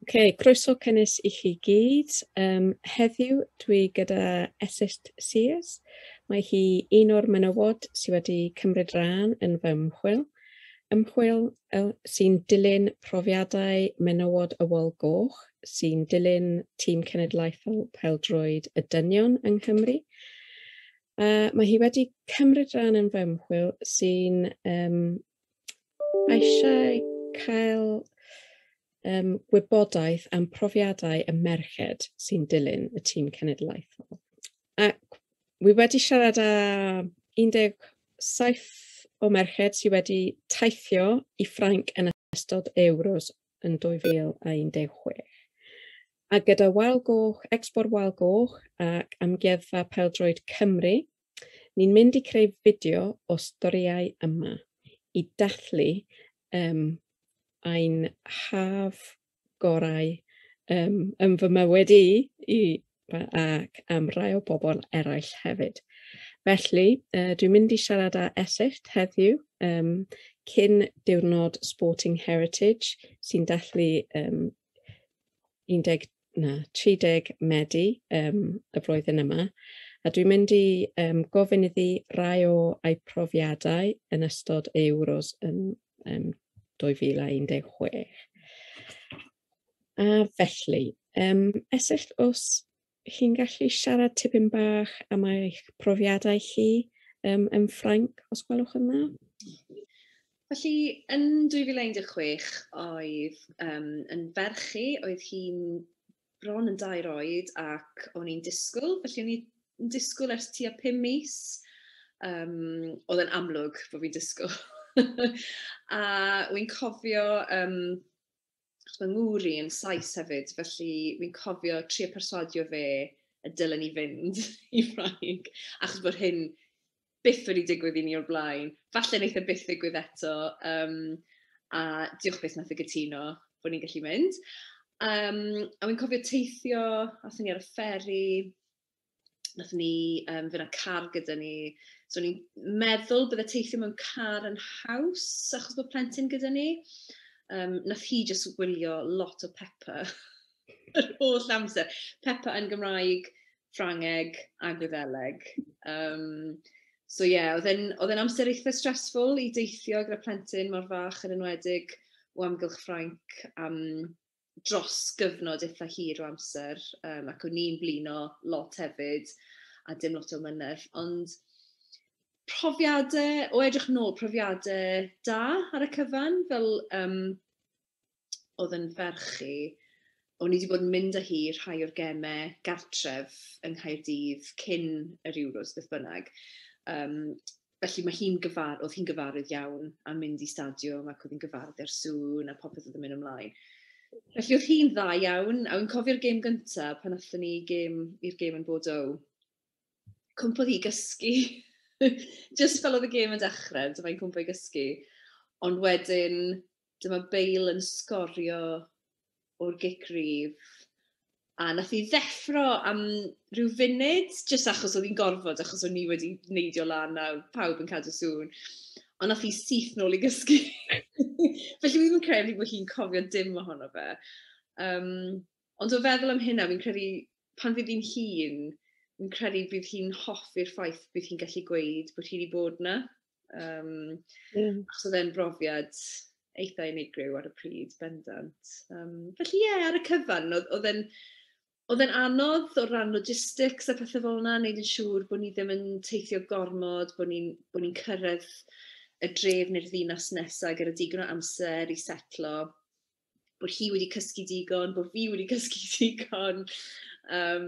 Ok, croeso cynnes i chi gyd. Um, heddiw dwi gyda Esist Sears. Mae hi un o'r menywod sydd wedi cymryd rhan yn fy ymchwil. Ymchwil sy'n dilyn profiadau menywod y wal goch, sy'n dilyn tîm cenedlaethol peldroed y dynion yng Nghymru. A mae hi wedi cymryd rhan yn fy ymchwil sy'n um, eisiau cael um, gwybodaeth am profiadau y merched sy'n dilyn y tîm cenedlaethol. Ac wi wedi siarad â 17 o merched sydd wedi teithio i Ffrainc yn ystod Euros yn 2016. A gyda Wal Goch, Expor Wal Goch ac Amgueddfa Peldroed Cymru, ni'n mynd i creu fideo o storïau yma i dathlu um, ein haf gorau um, yn fy mywyd i, i ac am rai o bobl eraill hefyd. Felly, uh, dwi'n mynd i siarad â Eseicht heddiw, um, cyn diwrnod Sporting Heritage, sy'n dathlu um, 10, na, 30 Medi um, y flwyddyn yma. A dwi'n mynd i um, gofyn iddi rai o ei profiadau yn ystod Euros yn um, 2016. A felly, um, esyllt os chi'n gallu siarad tipyn bach am eich profiadau chi um, yn Ffrainc, os gwelwch yn dda? Felly, yn 2016, oedd um, yn ferch i, oedd hi'n bron yn dair oed ac o'n i'n disgwyl, felly o'n i'n disgwyl ers tua pum mis. Um, oedd yn amlwg bod fi'n disgwyl. a wy'n cofio um, fy ngŵr i yn Saes hefyd, felly fi'n cofio trio perswadio fe y dylen i fynd i Ffrainc, achos bod hyn byth wedi digwydd i ni o'r blaen. Falle wneith e byth ddigwydd eto, um, a diolch beth nath y gytuno bod ni'n gallu mynd. Um, a fi'n cofio teithio, athyn ni ar y fferi, Nath ni yym fy' 'na car gyda ni so o'n i'n meddwl bydde teithio mewn car yn haws achos bod plentyn gyda ni yym nath hi jyst wylio lot o Pepa yr holl amser. Pepa yn Gymraeg, Ffrangeg a Gwyddeleg yym so ie o'dd e'n o'dd e'n amser eitha stressful i deithio gyda plentyn mor fach yn enwedig o amgylch Ffrainc am dros gyfnod eitha hir o amser yym ac o'n i'n blino lot hefyd a dim lot o ymynedd ond profiade o edrych nôl profiade da ar y cyfan fel yym o'dd yn ferch i o'n i 'di bod yn mynd â hi rhai o'r geme gartref yng Nghaerdydd cyn yr Euros beth bynnag yym Felly mae hi'n gyfar- oedd hi'n gyfarwydd iawn â mynd i stadiwm ac oedd hi'n gyfarwydd â'r sŵn a popeth oedd yn mynd ymlaen. Felly oedd hi'n dda iawn, a wi'n cofio'r gêm gyntaf pan athon ni gêm i'r gêm yn Bordeaux. Cwmpodd hi gysgu. Just fel oedd y gêm yn dechrau, dyma hi'n cwmpo i gysgu. Ond wedyn, dyma Bale yn sgorio o'r gic rydd, a wnaeth hi ddeffro am ryw funud, jyst achos oedd hi'n gorfod, achos o'n ni wedi neidio lan a oedd pawb yn cadw sŵn. Ond wnaeth hi syth nôl i gysgu. Felly fi ddim yn credu bod hi'n cofio dim ohono fe. Um, ond o feddwl am hynna, fi'n credu pan fydd hi'n hun, fi'n credu bydd hi'n hoffi'r ffaith bydd hi'n gallu gweud bod hi wedi bod yna. Yym, mm. Achos oedd e'n brofiad eitha unigryw ar y pryd, bendant. Um, felly ie, yeah, ar y cyfan, oedd e'n... Oedd e'n anodd o ran logistics a pethau fel yna, wneud yn siŵr bod ni ddim yn teithio gormod, bod ni'n ni, cyrraedd y dref neu'r ddinas nesaf gyda digon o amser i setlo. bod hi wedi cysgu digon, bod fi wedi cysgu digon. Um,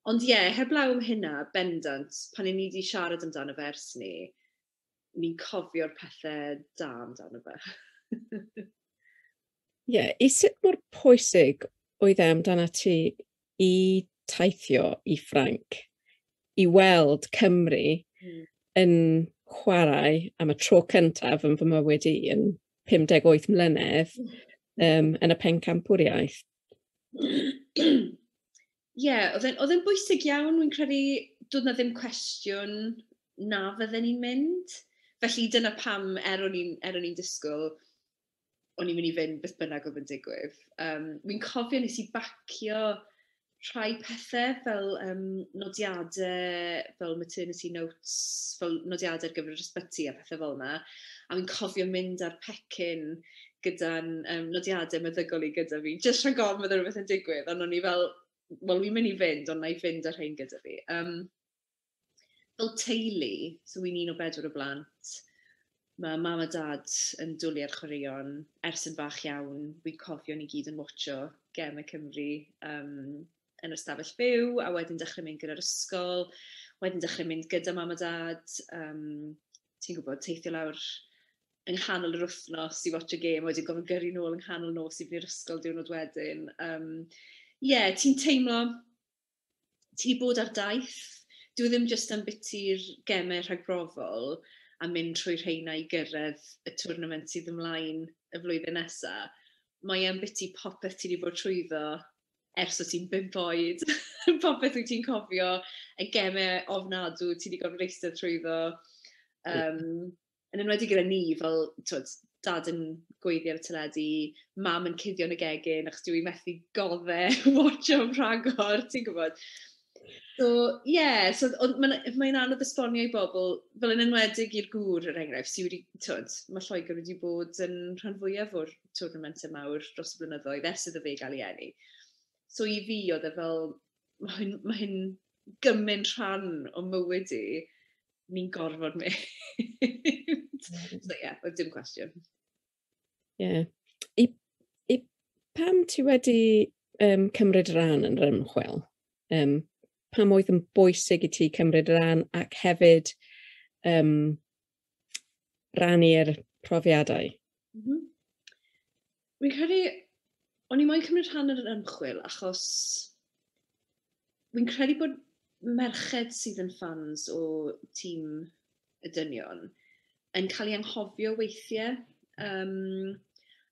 ond ie, yeah, heblaw am hynna, bendant, pan i ni wedi siarad amdano fe ers ni, ni'n cofio'r pethau da amdano fe. Ie, yeah, i sut mor pwysig oedd e amdana ti i teithio i Ffranc i weld Cymru hmm. yn chwarae am y tro cyntaf yn fy mywyd i yn 58 mlynedd um, yn y pencampwriaeth. Ie, yeah, oedd e'n bwysig iawn, wy'n credu dod na ddim cwestiwn na fydden ni'n mynd. Felly dyna pam, er o'n i'n er disgwyl o'n i'n mynd i fynd beth bynnag oedd yn digwydd. Um, Wy'n cofio nes i bacio rhai pethau fel um, nodiadau, fel maternity notes, fel nodiadau ar gyfer yr ysbyty a pethau fel yna. A wy'n cofio mynd ar pecyn gyda'n um, nodiadau meddygol i gyda fi, jyst rhag ofn fydde rhywbeth yn digwydd, ond o'n i fel, wel, wy'n mynd i fynd, ond na i fynd ar hyn gyda fi. Um, fel teulu, so wi'n un o bedwar o blant, mae mam a dad yn dwlu ar chwaraeon ers yn fach iawn. Fi'n cofio ni gyd yn watsio gemau Cymru um, yn yr stafell byw, a wedyn dechrau mynd gyda'r ysgol, wedyn dechrau mynd gyda mam a dad, um, ti'n gwybod, teithio lawr yng nghanol yr wythnos i watch y gêm, wedyn gofyn gyrru nôl yng nghanol nos i fyny'r ysgol diwrnod wedyn. Um, Ie, yeah, ti'n teimlo ti 'di bod ar daith, dyw e ddim jyst am biti'r gemau rhagbrofol a mynd trwy rheina i gyrraedd y twrnament sydd ymlaen y flwyddyn nesa', mae e am biti popeth ti 'di bod trwyddo ers o' ti'n bump oed, popeth wyt ti'n cofio, y gemau ofnadw ti 'di gorfod eistedd trwyddo, yym... yn enwedig gyda ni fel t'wod dad yn gweiddi ar y teledu, mam yn cuddio yn y gegin achos dyw 'i methu godd e watsio am rhagor ti'n gwbod? So ie so o'dd ma'n yy mae'n anodd esbonio i bobl fel yn enwedig i'r gŵr er enghraifft sy wedi t'wod ma' Lloegr wedi bod yn rhan fwyaf o'r twrnament y mawr dros y blynyddoedd ers iddo fe ga'l 'i eni. So i fi o'dd e fel ma' hyn ma' hyn gymint rhan o mywyd i, ni'n gorfod mynd. so ie, yeah, oedd dim cwestiwn. Ie. Yeah. I, I pam ti wedi um, cymryd rhan yn yr ymchwil? Um, pam oedd yn bwysig i ti cymryd rhan ac hefyd um, rannu'r profiadau? Mm -hmm. Fi'n credu, o'n i moyn cymryd rhan yn yr ymchwil achos fi'n credu bod merched sydd yn ffans o tîm y dynion yn cael ei anghofio weithiau. Um,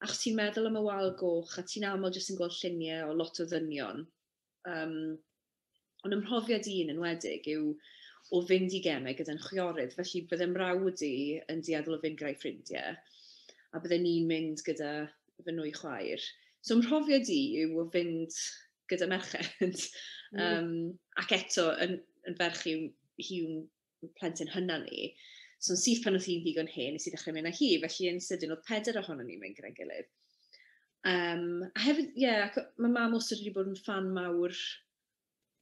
achos ti'n meddwl am y wal goch a ti'n aml jyst yn gweld lluniau o lot o ddynion Um, ond ym mhrofiad i yn enwedig yw o fynd i gemau gyda'n chwiorydd, felly bydde mrawd i yn dueddol o fynd gyda'i ffrindiau, a bydde ni'n mynd gyda fy nwy chwaer. So ym mhrofiad i yw o fynd gyda merched, um, ac eto yn, yn ferch i'w, hi'n plentyn hynna ni. So yn syth pan oedd hi'n ddigon hen, nes i ddechrau mynd â hi, felly yn sydyn oedd peder ohono ni'n mynd gyda'n gilydd. Um, a hefyd, ie, yeah, mae mam os wedi bod yn fan mawr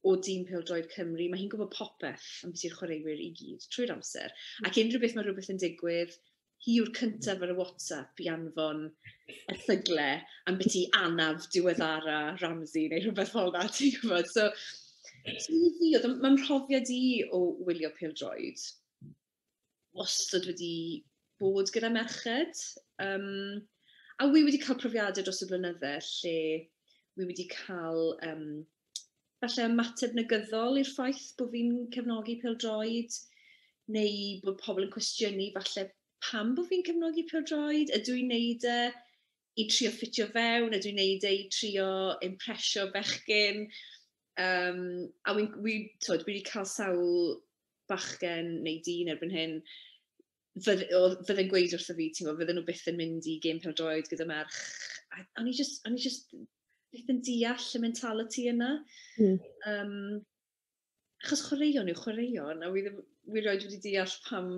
o dîm Pildroed Cymru, mae hi'n gwybod popeth am beth yw'r chwaraewyr i gyd trwy'r amser. Ac unrhyw beth mae rhywbeth yn digwydd, hi yw'r cyntaf ar y WhatsApp i anfon erthygle ambiti anaf diweddara Ramsey neu rhywbeth fel yna, ti'n gwybod? So, so i fi, oedd, mae'n mhrofiad i o wylio pildroed, wastad wedi bod gyda merched. Um, a wy wedi cael profiadau dros y blynydde lle wy wedi cael um, falle ymateb negyddol i'r ffaith bod fi'n cefnogi pêl-droed, neu bod pobl yn cwestiynu falle pam bod fi'n cefnogi pêl-droed, ydw i'n neud e i trio ffitio fewn, ydw i'n neud e i trio impresio bechgyn, yym a wi'n wi t'wod fi wedi cael sawl bachgen neu dyn erbyn hyn, fydde, oedd, fydde'n gweud wrtho fi, ti'n fydden nhw byth yn mynd i gêm pêl-droed gyda merch. A, o'n i just, o'n i just byth yn deall y mentality yna. Mm. Um, achos chwaraeon yw chwaraeon, a wy ddim, wy roed wedi deall pam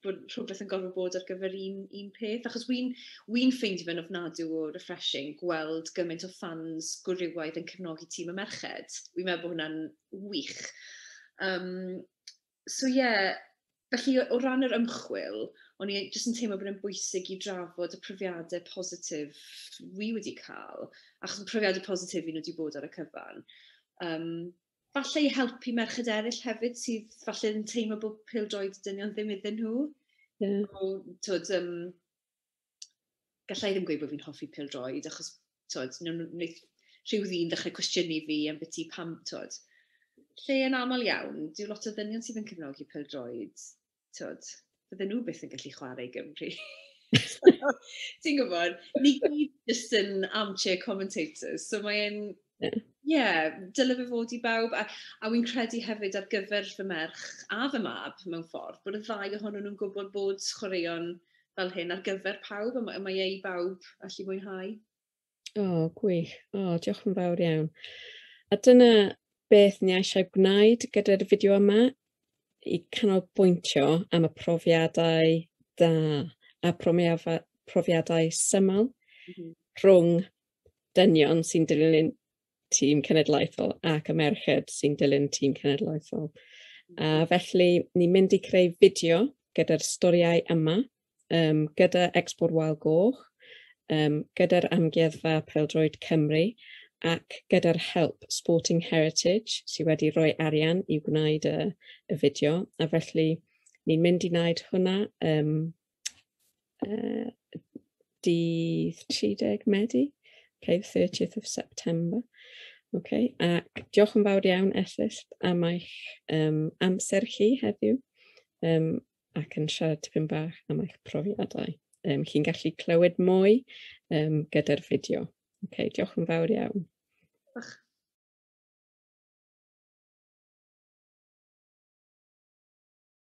bod rhywbeth yn gorfod bod ar gyfer un, un peth. Achos wy'n wy ffeindio fe'n ofnadw o refreshing gweld gymaint o ffans gwrywaidd yn cefnogi tîm y merched. Wy'n meddwl bod hwnna'n wych. Um, So ie, felly o ran yr ymchwil, o'n i jyst yn teimlo bod e'n bwysig i drafod y profiadau positif fi wedi cael, achos y profiadau positif i nhw wedi bod ar y cyfan. Um, falle i helpu merched eraill hefyd sydd falle yn teimlo bod pildroed dynion ddim iddyn nhw. Yeah. O, twyd, um, gallai ddim gweud bod fi'n hoffi pêl-droed achos t'od newn nhw neith rhyw ddyn ddechrau cwestiynu fi ambyti pam t'od lle yn aml iawn dyw lot o ddynion sydd yn cefnogi pêl-droed t'od fydden nhw byth yn gallu chwarae i Gymru. Ti'n gwybod, ni gyd jyst yn armchair commentators, so mae'n... Ie, yeah, dyle fe fod i bawb, a, a wy'n credu hefyd ar gyfer fy merch a fy mab mewn ffordd, bod y ddau ohonyn nhw'n gwybod bod chwaraeon fel hyn ar gyfer pawb a mae e i bawb allu mwynhau. O, oh, gwych. O, oh, diolch yn fawr iawn. A dyna beth ni eisiau gwneud gyda'r fideo yma i canolbwyntio am y profiadau da a profiadau syml mm -hmm. rhwng dynion sy'n dilyn tîm cenedlaethol ac y merched sy'n dilyn tîm cenedlaethol. A felly, ni'n mynd i creu fideo gyda'r storiau yma, um, gyda Export Wild Goch, um, gyda'r Amgueddfa Peldroed Cymru, ac gyda'r help Sporting Heritage sydd wedi rhoi arian i wneud y, y fideo, a felly ni'n mynd i wneud hwnna um, uh, dydd 30 Medi, okay, 30th of September. Okay. Ac diolch yn fawr iawn, Ethist, am eich um, amser chi heddiw um, ac yn siarad tipyn bach am eich profiadau. Um, Chi'n gallu clywed mwy um, gyda'r fideo. Okay, diolch yn fawr iawn. Diolch.